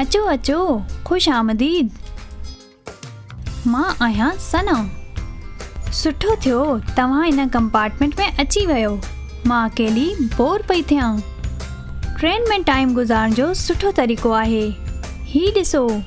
اچو اچو خوش آمديد مان آهيان سنا سٺو ٿيو توهان ان ڪمپارٽمنٽ ۾ اچي ويو مان اڪيلي بور پئي ٿيان ٽرين ۾ ٽائيم گذارڻ جو سٺو طريقو آهي هي ڏسو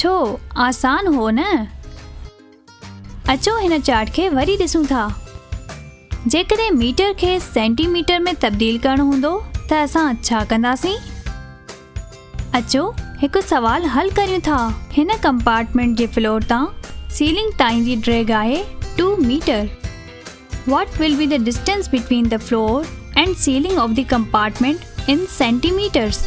ڇو آسان هو نه؟ اچو هن چارٽ کي وري ڏسون ٿا. جيڪڏهن ميٽر کي سينٽي ميٽر ۾ تبديل ڪرڻو هوندو ته اسان ڇا ڪنداسين؟ اچو هڪ سوال حل ڪريون ٿا. هن ڪمپارٽمينٽ جي فلور تان سيلنگ تائين جي ڊريگ آهي two metre. What will be the distance between the floor and ceiling of the compartment in centimetres?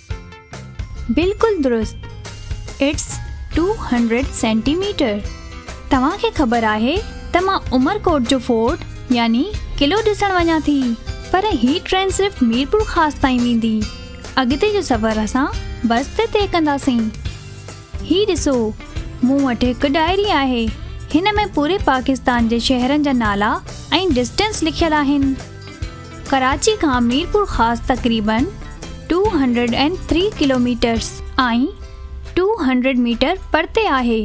بلڪل درست it's two hundred centimetre توهان کي خبر آهي ته مان عمر ڪوٽ جو فورٽ يعني قلعو ڏسڻ وڃان ٿي پر هي ٽرين صرف ميرپور خاص تائين ويندي اڳتي جو سفر اسان بس تي طئي ڪنداسين هي ڏسو مون وٽ هڪ ڊائري آهي هن ۾ پوري پاڪستان جي شهرن جا نالا ۽ ڊسٽنس لکيل آهن ڪراچي کان ميرپور خاص تقريبن two hundred and three kilometres ۽ two hundred metre پرتي آهي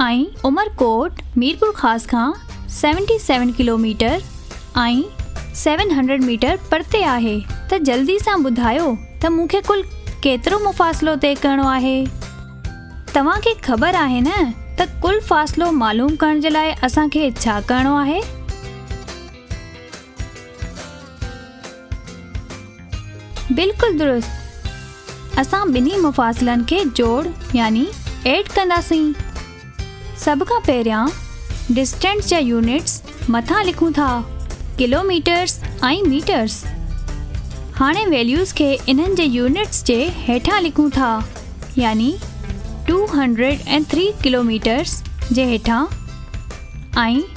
۽ عمرڪوٽ ميرپور خاص کان seventy seven kilometre ۽ seven hundred metre پرتي آهي ته جلدي سان ٻڌايو ته مون کي ڪل ڪيترو مفاصلو طئي ڪرڻو آهي توهان کي خبر آهي نه ته ڪل فاصلو معلوم ڪرڻ جي لاء اسان کي ڇا ڪرڻو آهي. بلڪل درست اسان ٻنهي مفاصلن کي جوڙ يعني ايڊ ڪنداسين سڀ کان پهريان ڊسٽنس جا يونٽس مٿان لکون ٿا ڪلو ميٽرس ۽ ميٽرس هاڻي ويليوز کي انهن جي يونٽس جي هيٺان لکون ٿا يعني 203 ڪلو ميٽرس جي هيٺان ۽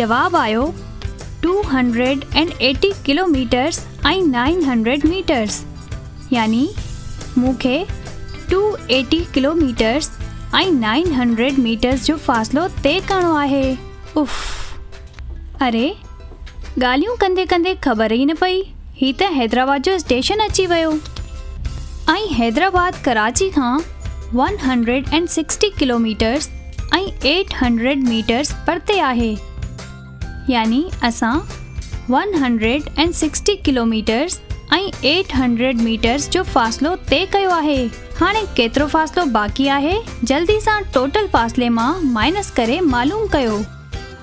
جواب آيو two hundred and eighty kilometres ۽ nine hundred metres يعني مون کي two eighty kilometres ۽ nine hundred metres جو فاصلو طئي ڪرڻو آهي اف اري ڳالهيون ڪندي ڪندي خبر ئي نه پئي هي ته حيدرآباد جو اسٽيشن اچي ويو ۽ حيدرآباد ڪراچي کان one hundred and sixty kilometres ۽ eight hundred metres پرتي آهي يعني اسان one hundred and sixty kilometres ۽ eight hundred metres جو فاصلو طئي ڪيو آهي هاڻي ڪيترو فاصلو باقي آهي جلدي سان ٽوٽل فاصلي مان مائنس ڪري معلوم ڪيو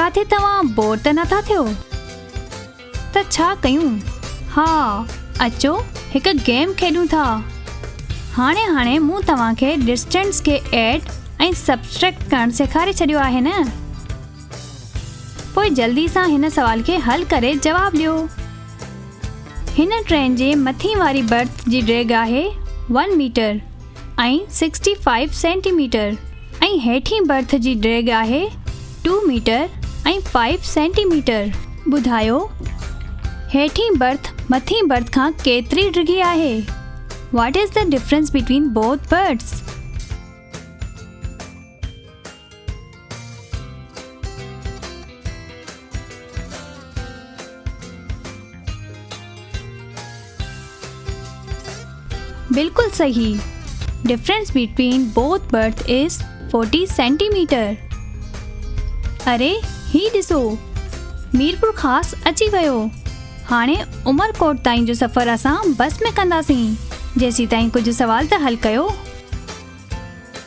ڪاٿي توهان بور ته نٿا ٿيو ته ڇا ڪيون ها اچو هڪ گيم کيڏون ٿا هاڻي هاڻي مون توهان کي ڊسٽينس کي ايڊ ۽ سبسٽريڪٽ ڪرڻ سيکاري ڇڏيو آهي نه پوء جلدي سان هن سوال کي حل ڪري جواب ڏيو. هن ٽرين جي مٿين واري برٿ جي ڊيگهه آهي one metre ۽ sixty five centimetre ميٽر ۽ هيٺين برٿ جي ڊيگهه آهي ٽو ميٽر ۽ فائيو سينٽي ميٽر. ٻڌايو هيٺين برٿ مٿين برٿ کان ڪيتري ڊگهي آهي؟ What is the difference between both berths؟ بلڪل صحيح difference between both berth is forty centimetre اري هي ڏسو ميرپور خاص اچي ويو هاڻي عمرڪوٽ تائين جو سفر اسان بس ۾ ڪنداسين جيسيتائين ڪجهه سوال ته حل ڪيو